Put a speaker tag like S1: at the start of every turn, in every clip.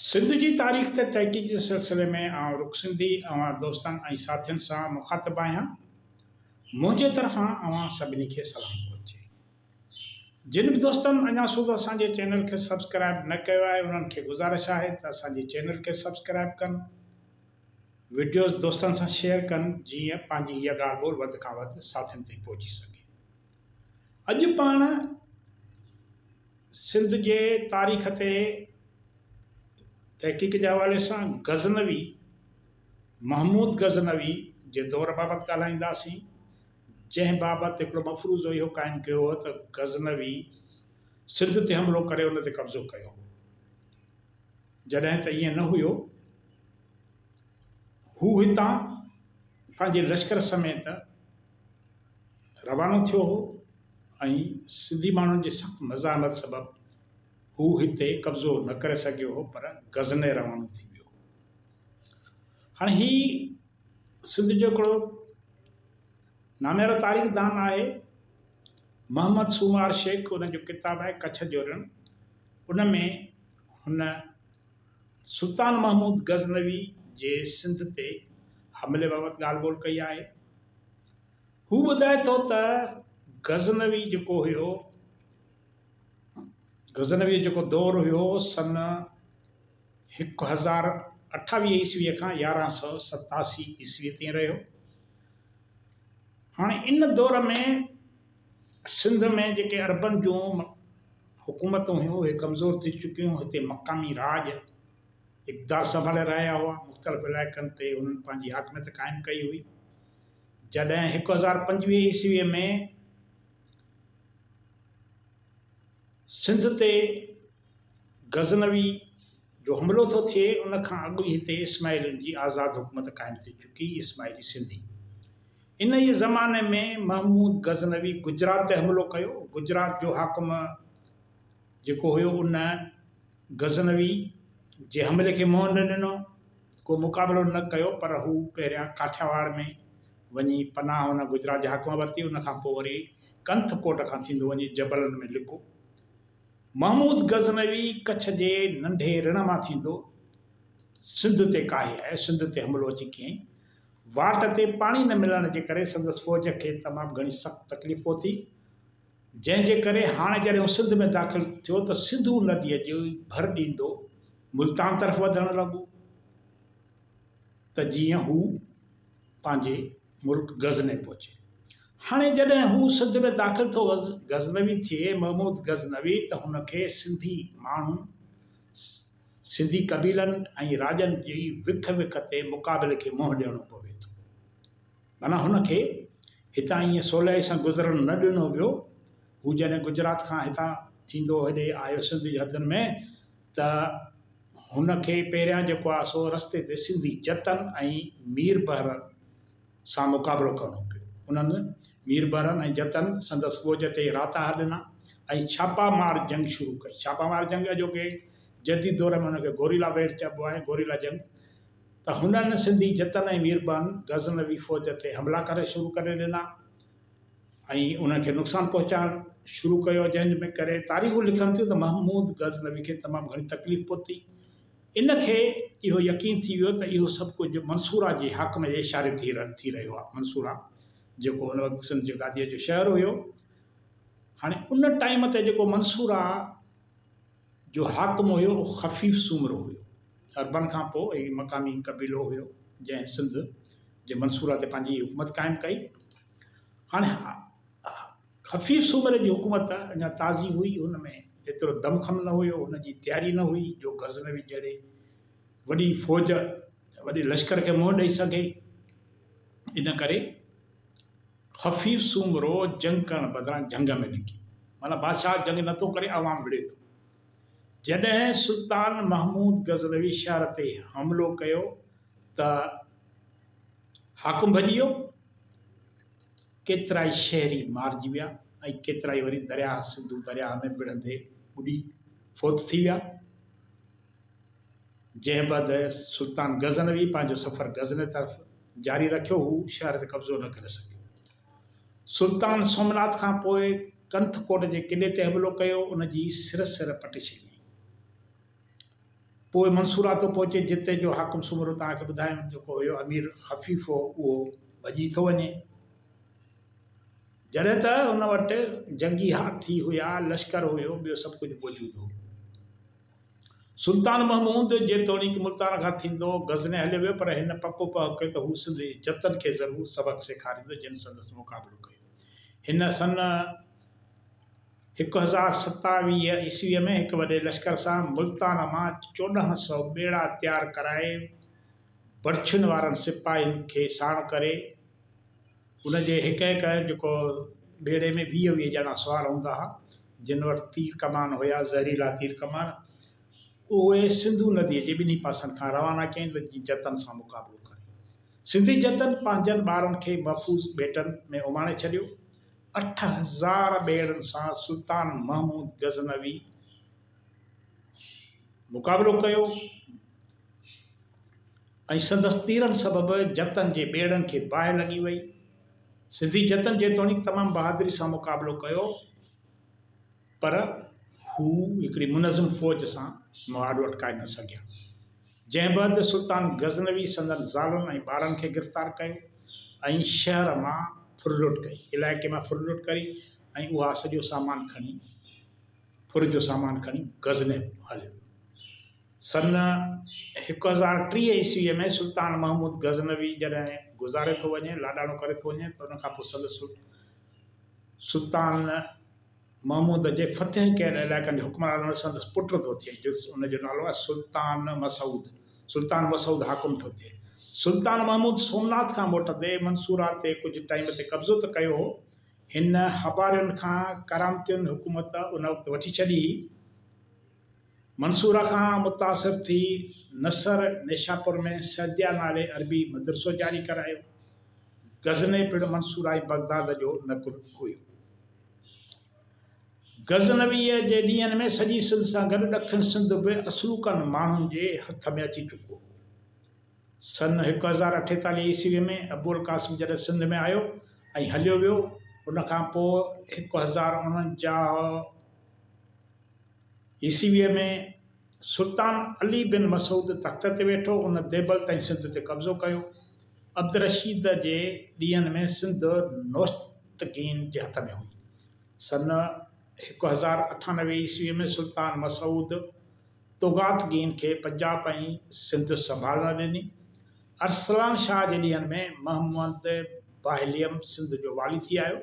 S1: سنڌ جي تاريخ تي تحقيق جي سلسلي ۾ آئون رخ سنڌي اوهان دوستن ۽ ساٿين سان مخاطب آهيان. منهنجي طرفان اوهان سڀني کي سلام پهچي. جن به دوستن اڃا سوڌو اسان جي چينل کي سبسڪرائب نه ڪيو آهي انهن کي گذارش آهي ته اسان جي چينل کي سبسڪرائب ڪن وڊيوز دوستن سان شيئر ڪن جيئن پنهنجي هيء ڳالهه ٻولهه وڌ کان وڌ ساٿين تائين پهچي سگهي. اڄ پاڻ سنڌ جي تاريخ تي تحقيق جي حوالي سان غزنوي محمود غزنوي جي دور بابت ڳالهائينداسين جنهن بابت هڪڙو مفروضو اهو قائم ڪيو هو ته غزنوي سنڌ تي حملو ڪري ان تي قبضو ڪيو هو جڏهن ته ائين نه هيو هو هتان پنهنجي لشڪر سميت روانو ٿيو هو ۽ سنڌي ماڻهن جي سخت مزاحمت سبب هو هتي قبضو نه ڪري سگهيو هو پر غزني روانو ٿي ويو هو. هاڻي هي سنڌ جو هڪڙو ناميارو تاريخ دان آهي محمد سومار شيخ ان جو ڪتاب آهي ڪڇ جو رڻ ان ۾ هن سلطان محمود غزنوي جي سنڌ تي حملي بابت ڳالهه ٻولهه ڪئي آهي. هو ٻڌائي ٿو ته غزنوي جيڪو هيو غزنوي جو جيڪو دور هيو سن هڪ هزار اٺاويهه عيسوي کان يارهن سؤ ستاسي عيسوي تائين رهيو هاڻي ان دور ۾ سنڌ ۾ جيڪي عربن جون حڪومتون هيون اهي ڪمزور ٿي چڪيون، هتي مقامي راڄ اقتدار سنڀالي رهيا هئا، مختلف علائقن تي انهن پنهنجي حاڪميت قائم ڪئي هئي. جڏهن هڪ هزار پنجويهه عيسويء ۾ سنڌ تي غزنوي جو حملو ٿو ٿئي ان کان اڳ ئي هتي اسماعيلين جي آزاد حڪومت قائم ٿي چڪي اسماعيلي سنڌي ان ئي زماني ۾ محمود غزنوي گجرات تي حملو ڪيو گجرات جو حاڪم جيڪو هيو ان غزنوي جي حملي کي منهن نه ڏنو ڪو مقابلو نه ڪيو پر هو پهريان ڪاٺياواڙ ۾ وڃي پناهه ان گجرات جي حاڪم ورتي ان کان پوء وري ڪنٿ ڪوٽ کان ٿيندو وڃي جبلن ۾ لڪو محمود غزنوي ڪڇ جي ننڍي رڻ مان ٿيندو سنڌ تي ڪاهي آيو. سنڌ تي حملو اچي ڪيائين. واٽ تي پاڻي نه ملڻ جي ڪري سندس فوج کي تمام گهڻي سخت تڪليف پهتي، جنهن جي ڪري هاڻ جڏهن هو سنڌ ۾ داخل ٿيو ته سنڌو نديء جي ڀر ڏيندو ملتان طرف وڌڻ لڳو ته جيئن هو پنهنجي ملڪ غزني پهچي. هاڻي جڏهن هو سنڌ ۾ داخل ٿو غزنوي ٿئي محمود غزنوي ته هن کي سنڌي ماڻهن، سنڌي قبيلن ۽ راڄن جي وک وک تي مقابلي کي منهن ڏيڻو پوي ٿو. معنيٰ هن کي هتان ائين سولائي سان گذرڻ نه ڏنو ويو. هو جڏهن گجرات کان هتان ٿيندو هيڏي آيو سنڌ جي حدن ۾ ته. هن کي پهريان جيڪو آهي سو رستي تي سنڌي جتن ۽ مير بحرن سان مقابلو ڪرڻو پيو. انهن، مير بحرن ۽ جتن، سندس ڳوڄ تي راتاها ڏنا ۽ ڇاپا مار جنگ شروع ڪئي. ڇاپا مار جنگ اڄوڪي جديد دور ۾ ان کي گوريلا ويڙهه چئبو آهي، گوريلا جنگ، ته هنن سنڌي جتن ۽ مير بحرن غزنوي فوج تي حملا ڪرڻ شروع ڪري ڏنا. ۽ انهن کي نقصان پهچائڻ شروع ڪيو جنهن ۾ ڪري تاريخون لکن ٿيون ته محمود غزنوي کي تمام گهڻي تڪليف پهتي ان کي اهو يقين ٿي ويو ته اهو سڀ ڪجهه منصوره جي حاڪم جي اشاري ٿي رهيو آهي منصوره جيڪو ان وقت سنڌ جي گاديء جو شهر هيو هاڻي ان ٽائيم تي جيڪو منصوره جو حاڪم هيو اهو خفيف سومرو هيو. عربن کان پوء هي مقامي قبيلو هيو جنهن سنڌ جي منصوره تي پنهنجي حڪومت قائم ڪئي. هاڻي خفيف سومري جي حڪومت اڃا تازي هئي، هن ۾ ايترو دم خم نه هيو، هن جي تياري نه هئي جو غزنوي جهڙي وڏي فوج، وڏي لشڪر کي منهن ڏئي سگهي. ان ڪري. خفيف سومرو جنگ ڪرڻ بدران جهنگ ۾ نڪي معنيٰ بادشاهه جنگ نه ٿو ڪري عوام وڙهي ٿو. جڏهن سلطان محمود غزنوي شهر تي حملو ڪيو ته حاڪم ڀڄي ويو، ڪيترائي شهري مارجي ويا ۽ ڪيترائي وري درياهه سنڌو درياهه ۾ وڙهندي ٻڏي فوت ٿي ويا. جنهن بعد سلطان غزنوي پنهنجو سفر غزني طرف جاري رکيو، هو شهر تي قبضو نه ڪري سگهيو. سلطان سومناٿ کان پوء ڪنٿ ڪوٽ جي قلعي تي حملو ڪيو، ان جي سر سر پٽي ڇڏي. پوء منصوراتو پهچي جتي جو حاڪم سومرو توهان کي ٻڌايم، جيڪو هيو امير حفيف هو، اهو ڀڄي ٿو وڃي. جڏهن ته ان وٽ جنگي هاٿي هيا، لشڪر هيو، ٻيو سڀ ڪجهه موجود هو. سلطان محمود جيتوڻيڪ ملتان کان ٿيندو غزني هليو ويو پر هن پڪو پهه ڪيو ته هو سنڌ جي جتن کي ضرور سبق سيکاريندو جن سندس مقابلو ڪيو. هن سن هڪ هزار ستاويهه عيسويء ۾ هڪ وڏي لشڪر سان ملتان مان چوڏهن سؤ ٻيڙا تيار ڪرائي برڇن وارن سپاهين کي ساڻ ڪري ان جي هڪ هڪ جيڪو ٻيڙي ۾ ويهه ويهه ڄڻا سوار هوندا ها جن وٽ تير ڪمان هيا زهريلا تير ڪمان اهي سنڌو ندي جي ٻنهي پاسن کان روانا ڪين ته جيئن جتن سان مقابلو ڪري سنڌي جتن پنهنجن ٻارن کي محفوظ ٻيٽن ۾ اماڻي ڇڏيو اٺ هزار ٻيڙن سان سلطان محمود غزنوي مقابلو ڪيو. ۽ سندس تيرن سبب جتن جي ٻيڙن کي باهه لڳي وئي. سنڌي جتن جيتوڻيڪ تمام بهادري سان مقابلو ڪيو پر هو هڪڙي منظم فوج سان مهاڏو اٽڪائي نه سگهيا. جنهن بعد سلطان غزنوي سندن زالن ۽ ٻارن کي گرفتار ڪيو ۽ شهر مان ڦرلٽ ڪئي، علائقي مان ڦرلٽ ڪري ۽ اها سڄو سامان کڻي ڦر جو سامان کڻي غزني هليو ويو. سن هڪ هزار ٽيهه عيسويء ۾ سلطان محمود غزنوي جڏهن گذاري ٿو وڃي، لاڏاڻو ڪري ٿو وڃي، ته ان کان پوء سندس سلط سلطان محمود جي فتح ڪيل علائقن جو حڪمران هڻي سندس پٽ ٿو ٿئي، جو ان جو نالو آهي سلطان مسعود. سلطان مسعود حاڪم ٿو ٿئي. سلطان محمود سومناٿ کان موٽندي منصوره تي ڪجهه ٽائيم تي قبضو ته ڪيو هو، هن هبارين کان ڪرامتين حڪومت ان وقت وٺي ڇڏي هئي، منصوره کان متاثر ٿي نصر نيشاپور ۾ سعديه نالي عربي مدرسو جاري ڪرايو. غزني پڻ منصوره ۽ بغداد جو نقل هيو. غزنويء جي ڏينهن ۾ سڄي سنڌ سان گڏ ڏکڻ سنڌ به اصلوڪن ماڻهن جي هٿ ۾ اچي چڪو هو. سن هڪ هزار اٺيتاليهه عيسويء ۾ ابوالقاسم جڏهن سنڌ ۾ آيو ۽ هليو ويو، ان کان پوء هڪ هزار اڻنجاهه، عيسويء ۾ سلطان علي بن مسعود تخت تي ويٺو، ان ديبل تائين سنڌ تي قبضو ڪيو. عبدالرشيد جي ڏينهن ۾ سنڌ نوشتگين جي هٿ ۾ هئي. سن هڪ هزار اٺانوي عيسويء ۾ سلطان مسعود توغاتگين کي پنجاب ۽ سنڌ سنڀالڻ ڏني. ارسلان شاهه جي ڏينهن ۾ محمد باهليم سنڌ جو والي ٿي آيو.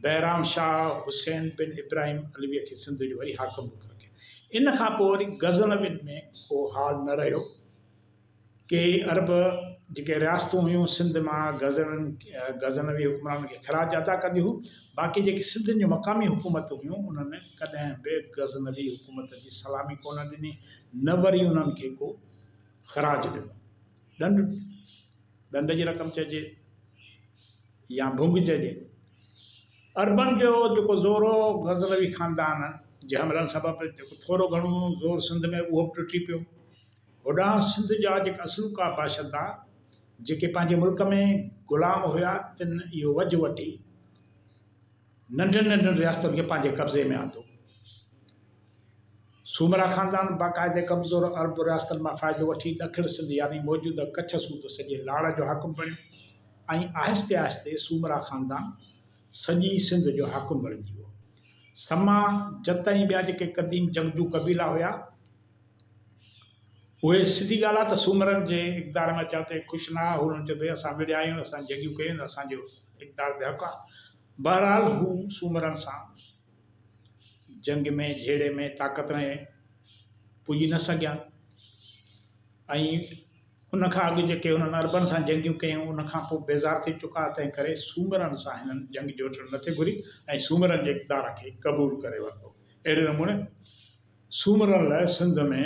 S1: بهرام شاهه حسين بن ابراهيم علويء کي سنڌ جو وري حاڪم مقرر ڪيو. ان کان پوء وري غزنوين ۾ اهو حال نه رهيو. ڪي عرب جيڪي رياستون هيون سنڌ مان غزنوين غزنوي حڪمرانن کي خراج ادا ڪنديون هيون، باقي جيڪي سنڌين جون مقامي حڪومتون هيون انهن ڪڏهن به غزنوي حڪومت جي سلامي ڪونه ڏني نه وري انهن کي ڪو خراج ڏنو. ڏنڊ، ڏنڊ جي رقم چئجي. يا ڀونگ چئجي. عربن جو جيڪو زور هو، غزنوي خاندان جي حملن سبب جيڪو ٿورو گهڻو زور سنڌ ۾ اهو به ٽٽي پيو. هوڏانهن سنڌ جا جيڪي اصلوڪا باشندا جيڪي پنهنجي ملڪ ۾ غلام هيا تن اهو وجهه وٺي، ننڍين ننڍين رياستن کي پنهنجي قبضي ۾ آندو. سومرا خاندان باقاعدي ڪمزور عرب رياستن مان فائدو وٺي ڏکڻ سنڌ يعني موجوده ڪڇ سوڌو سڄي لاڙ جو حاڪم بڻيو ۽ آهستي آهستي سومرا خاندان سڄي سنڌ جو حاڪم بڻجي ويو. سما، جت ۽ ٻيا جيڪي قديم جنگجو قبيلا هيا، اهي سڌي ڳالهه آهي ته سومرن جي اقتدار ۾ اچڻ تي خوش نه آهي، هو انهن چيو ته اسان وڙهيا آهيون، اسان جنگيون ڪيون آهن، اسان جو اقتدار تي حق آهي. بهرحال هو سومرن سان جنگ ۾ جهيڙي ۾ طاقت ۾ پڄي نه سگهيا ۽ ان کان اڳ جيڪي هنن عربن سان جنگيون ڪيون ان کان پوء بيزار ٿي چڪا، تنهن ڪري سومرن سان هنن جنگ جوٽڻ نه ٿي گهري ۽ سومرن جي اقتدار کي قبول ڪري ورتو. اهڙي نموني سومرن لاء سنڌ ۾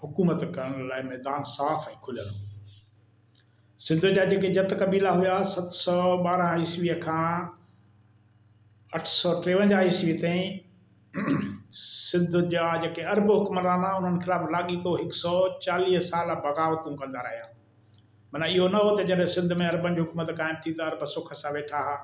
S1: حڪومت ڪرڻ لاء ميدان صاف ۽ کليل هو. سنڌ جا جيڪي جت قبيلا هيا، ست سؤ ٻارهن عيسويء کان اٺ سؤ ٽيونجاهه عيسويء تائين سنڌ جا جيڪي عرب حڪمران ها، انهن خلاف لاڳيتو هڪ سؤ چاليهه سال بغاوتون ڪندا رهيا. معنيٰ اهو نه هو ته جڏهن سنڌ ۾ عربن جي حڪومت قائم ٿي ته عرب سک سان ويٺا ها،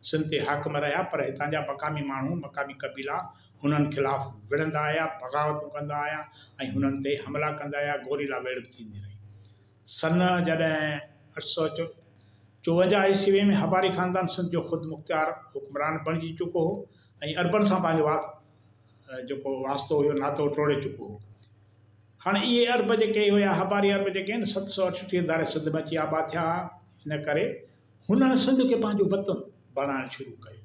S1: سنڌ تي حاڪم رهيا، پر هتان جا مقامي ماڻهو، مقامي قبيلا، هنن خلاف وڙهندا آيا، بغاوتون ڪندا آيا ۽ هنن تي حملا ڪندا آيا، گوريلا ويڙهه ٿيندي رهي. سن جڏهن اٺ سؤ چوونجاهه عيسوي ۾ هباري خاندان سنڌ جو خود مختيار حڪمران بڻجي چڪو هو ۽ عربن سان پنهنجو جيڪو واسطو هيو، ناتو ٽوڙي چڪو هو. هاڻ اهي عرب جيڪي هيا، هباري عرب جيڪي آهن، ست سؤ اٺٽيهه ڌاري سنڌ ۾ اچي آباد ٿيا هئا، ان ڪري هنن سنڌ کي پنهنجو وطن بڻائڻ شروع ڪيو.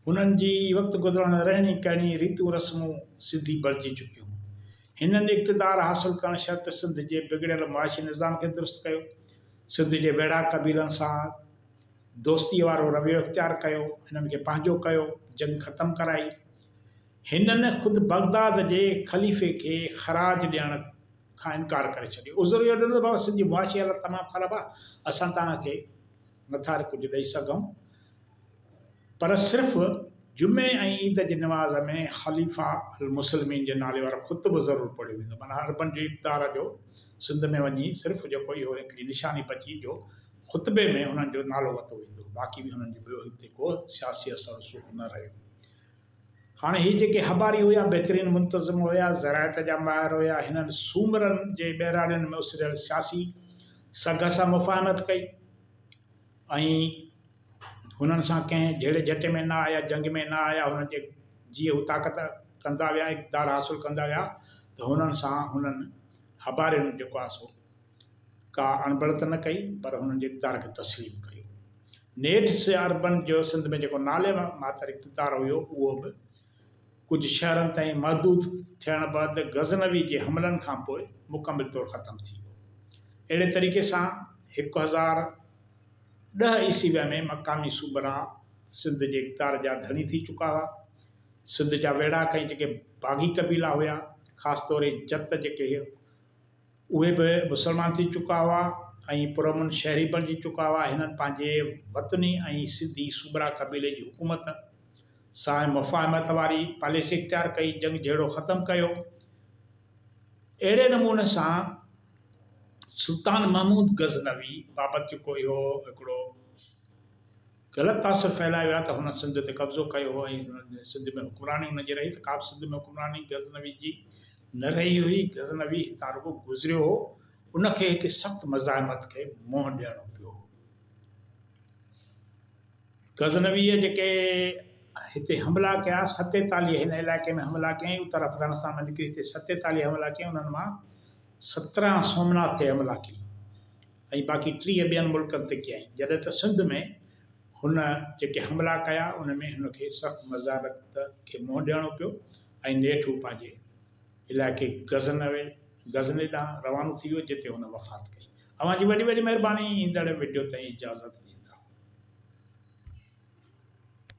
S1: هنن جي وقت گذرڻ رهڻي ڪهڻي، ريتون رسمون سنڌي بڻجي چڪيون هيون. هنن اقتدار حاصل ڪرڻ شرط سنڌ جي بگڙيل معاشي نظام کي درست ڪيو. سنڌ جي ويڙها قبيلن سان دوستيء وارو رويو اختيار ڪيو. هنن کي پنهنجو ڪيو. جنگ ختم ڪرائي. هنن خود بغداد جي خليفي کي خراج ڏيڻ. کان انڪار ڪري ڇڏيو. عذر اهو ڏنو ته بابا سنڌ جي معاشي حالت تمام خراب آهي، اسان توهان کي نٿا ڪجهه ڏئي سگهون، پر صرف جمعي ۽ عيد جي نماز ۾ خليفه المسلمين جي نالي وارو خطبو ضرور پڙهيو ويندو. معنيٰ عربن جي اقتدار جو سنڌ ۾ وڃي صرف جيڪو اهو هڪڙي نشاني بچي جو خطبي ۾ انهن جو نالو ورتو ويندو، باقي به انهن جو ٻيو هتي ڪو سياسي اثر رسوخ نه رهيو. هاڻي هي جيڪي هٻاري هيا بهترين منتظم هيا، زراعت جا ماهر هيا، هنن سومرن جي ٻهراڙين ۾ اسريل سياسي سگهه سان مفاهمت ڪئي ۽ هنن سان ڪنهن جهيڙي جهٽي ۾ نه آيا، جنگ ۾ نه آيا، هنن جي جيئن هو طاقت ڪندا ويا، اقتدار حاصل ڪندا ويا ته هنن سان هنن هٻارين جيڪو آهي سو. ڪا اڻبڻ ته نه ڪئي پر هنن جي اقتدار کي تسليم ڪيو. نيٺ سي آر بنٽ جو سنڌ ۾ جيڪو نالي ماتر اقتدار هيو اهو به ڪجهه شهرن تائين محدود ٿيڻ بعد غزنوي جي حملن کان پوء مڪمل طور ختم ٿي ويو. اهڙي طريقي سان هڪ هزار ڏهه عيسويء ۾ مقامي صوبرا سنڌ جي اقتدار جا ڌڻي ٿي چڪا هئا. سنڌ جا ويڙهاڪ ۽ جيڪي باغي قبيلا هيا خاص طور هي جت جيڪي اهي به مسلمان ٿي چڪا هئا ۽ پرامن شهري بڻجي چڪا هئا. هنن پنهنجي وطني ۽ سنڌي سومرا قبيلي جي حڪومت سان مفاهمت واري پاليسي اختيار ڪئي، جنگ جهيڙو ختم ڪيو. اهڙي نموني سان سلطان محمود غزنوي بابت جيڪو اهو هڪڙو. غلط تاثر ڦهلائي ويا ته هن سنڌ تي قبضو ڪيو هو ۽ سنڌ ۾ حڪمراني هن جي رهي ته ڪابه سنڌ ۾ حڪمراني غزنوي جي نه رهي هئي. غزنوي هتان رڳو گذريو هو، ان کي هتي سخت مزاحمت کي منهن ڏيڻو پيو هو. غزنويء جيڪي هتي حملا ڪيا، ستيتاليهه هن علائقي ۾ حملا ڪيائين، اتر افغانستان مان نڪري هتي ستيتاليهه حملا ڪيائين، انهن مان سترهن سومناٿ تي حملا ڪيائين. ۽ باقي ٽيهه ٻين ملڪن تي ڪيائين جڏهن ته سنڌ ۾ هن جيڪي حملا ڪيا ان ۾ هن کي سخت مذارت کي منهن ڏيڻو پيو ۽ نيٺ هو پنهنجي علائقي غزنوي، غزني، ڏانهن روانو ٿي ويو جتي هن وفات ڪئي. اوهان جي وڏي وڏي مهرباني ايندڙ وڊيو تائين اجازت ڏيندا.